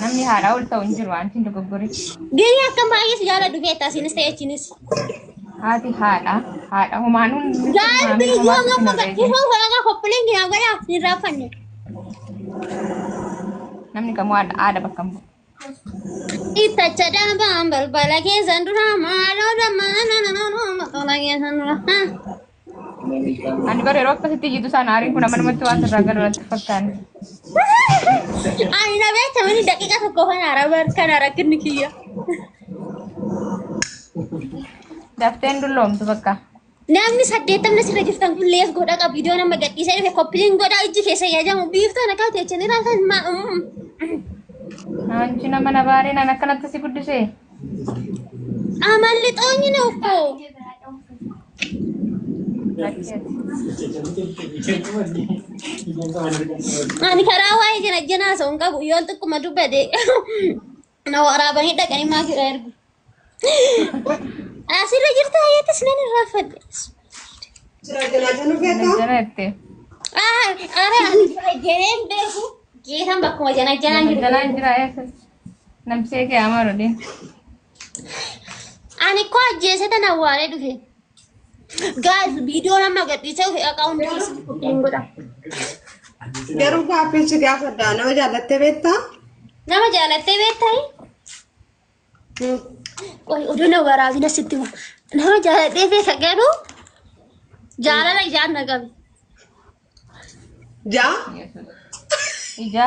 Namni haadhaa ol ta'u hin jiru antiin dogoggorichi. Gini akka baay'ee si jaala dhufee taasiinis ta'e achiinis. Haati haadha haadha homaanuun nutti Gaal himaamee biyyoo homaatu gaffa sinirree gad jira. dhufuu holagaa koppileen gina godhaa hin raaffanne. Namni kamuu haadha haadha bakka hin bu'u. Ittacha dhaabaan balbala keessan dura maaloo dammaa nananoo maqola keessan dura. Ani bara yeroo akkasitti jitu sana aariin kun amma namatti waan irraa galu natti fakkaanne. Ani na beekamani daqiiqa tokko kan araba kan arakinni kiyya. Dafteen dulloomtu bakka. Namni saddeettamni sirra jirtan kun lees godha qabu viidiyoon amma gadhiisee dhufe koppiliin godha ijji keessa yaajamu biiftaan akkaa teechan irraa kan maa. Anchi nama na baaree nan akkanatti si guddisee. Amalli xoonyi na uffoo. Ani karaa waa'ee jira jenaa osoo hin qabu yoon xiqquma dubbate na waraabanii dhaqanii maa jira ergu. Asirra jirta ayyatis nan irraanfadhe. Janajjanatte. Ara ani jira jeneen beeku geetan bakkuma jana janaan jiru. Janajjanaan jira eessas. Nabsee kee amaru din. Ani koo ajjeese tan awwaalee dhufe. Gaas viidiyoo nama gadhiisee dhufe akka hundi keessa hin godha. Garuu gaaffii si gaafadha. Nama jaallattee beektaa? Nama jaalattee beektayi? Hmm. Qoy oduu na waraabina sitti hima. Nama jaalattee beeka garuu jaalala ijaan na qabe. Jaa? Ija.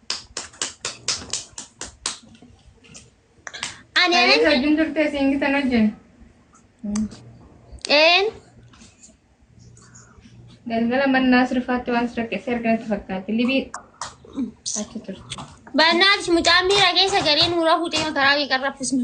Ani Anis ani wajjin turtee siin gitan wajjin. een Galgala mannaa sirfaatti waan sirreesse arganatti fakkaatti. Libii achi turte. bannaaf mucaan miira keessa galee nuura fuutee makaraa kee qarraffisne.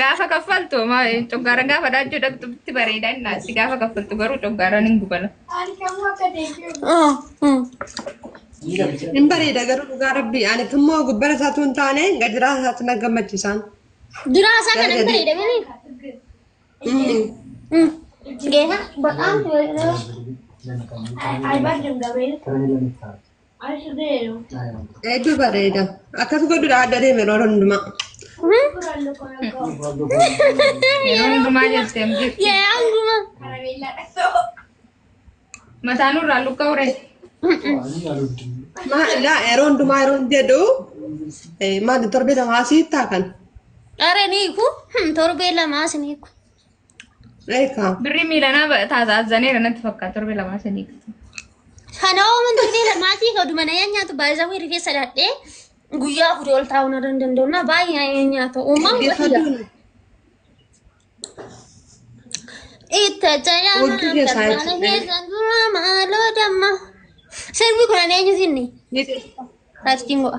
Gaafa kaffaltu ma coggaaraan gaafa dhaajjuu dhaqxutti bareeda inni naasi gaafa kaffaltu garuu coggaaraan hin gubala. Hin bareeda garuu dhugaa rabbii ani immoo gubbara isaatu hin taane gadiraa isaatu na gammachiisaan. Duraa isaa kana hin bareeda mini. Geeta. Ba'aan. Ay, ay, barri hin gabriin. Hedduu bareeda. Akkas godhudha adda deeme yeroo hundumaa. Yeroo hundumaa jettee hin jirtu. Yee anguma. Mataa nurraa lukka ure. Maalidha yeroo hundumaa yeroo jedhu eh, maali torbee lamaa siittaa kan. Are ni ku. Hmm, Torbee lamaa sini ku. Eekaa. Birrii miilanaa ba- taasa azzaneera natti fakkaata torbee lamaa sadii. Kana ooman durbee lamaatii ka dumana yaa nyaatu baay'isawwan rifeensa dhaadhee guyyaa kudha ol taa'uu na danda'u na baay'ee yaa nyaatu uumaan wayya. Itti jala Hojii keessaa maal jechuudha. keessa dura maaloo damma. Sirbi kun ani eenyu sinni? Ni Faastiin go'a.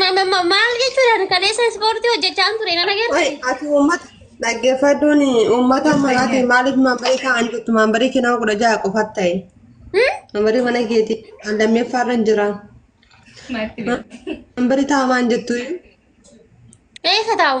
Ma- ma- ma- Maal jechuudhaan kaleessa ispoortii hojjechaan ture nan Wai, agarsiise. ati uummata dhaggeeffachuun uummata maraati maaliif mambarii ta'an jirtu mambarii kennaa kudha jaha qofa ta'e Hmm? mambarii mana keetii kan lammeeffaa irra hin jiraan mambarii ta'amaan jettu Eessa taa'u?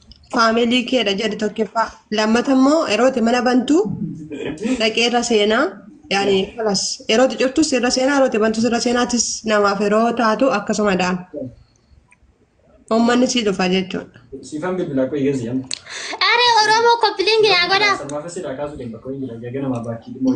Faamilii keedha jedhi tokkoffaa. Lammata immoo yerooti mana bantu dhaqee irra seenaa. Yaani kalas yerooti cuftus irra seenaa yerooti bantus irra seenaatis namaaf yeroo taatu akkasuma dhaan. Uummanni sii dhufa jechuudha. Siifan bilbilaa qoy geessi jedhama. Are Oromoo koppilingi naa godhaa. Sarmaafessi dhaa kaasuu deema qoy jira jagana maa baakii dhimmoo.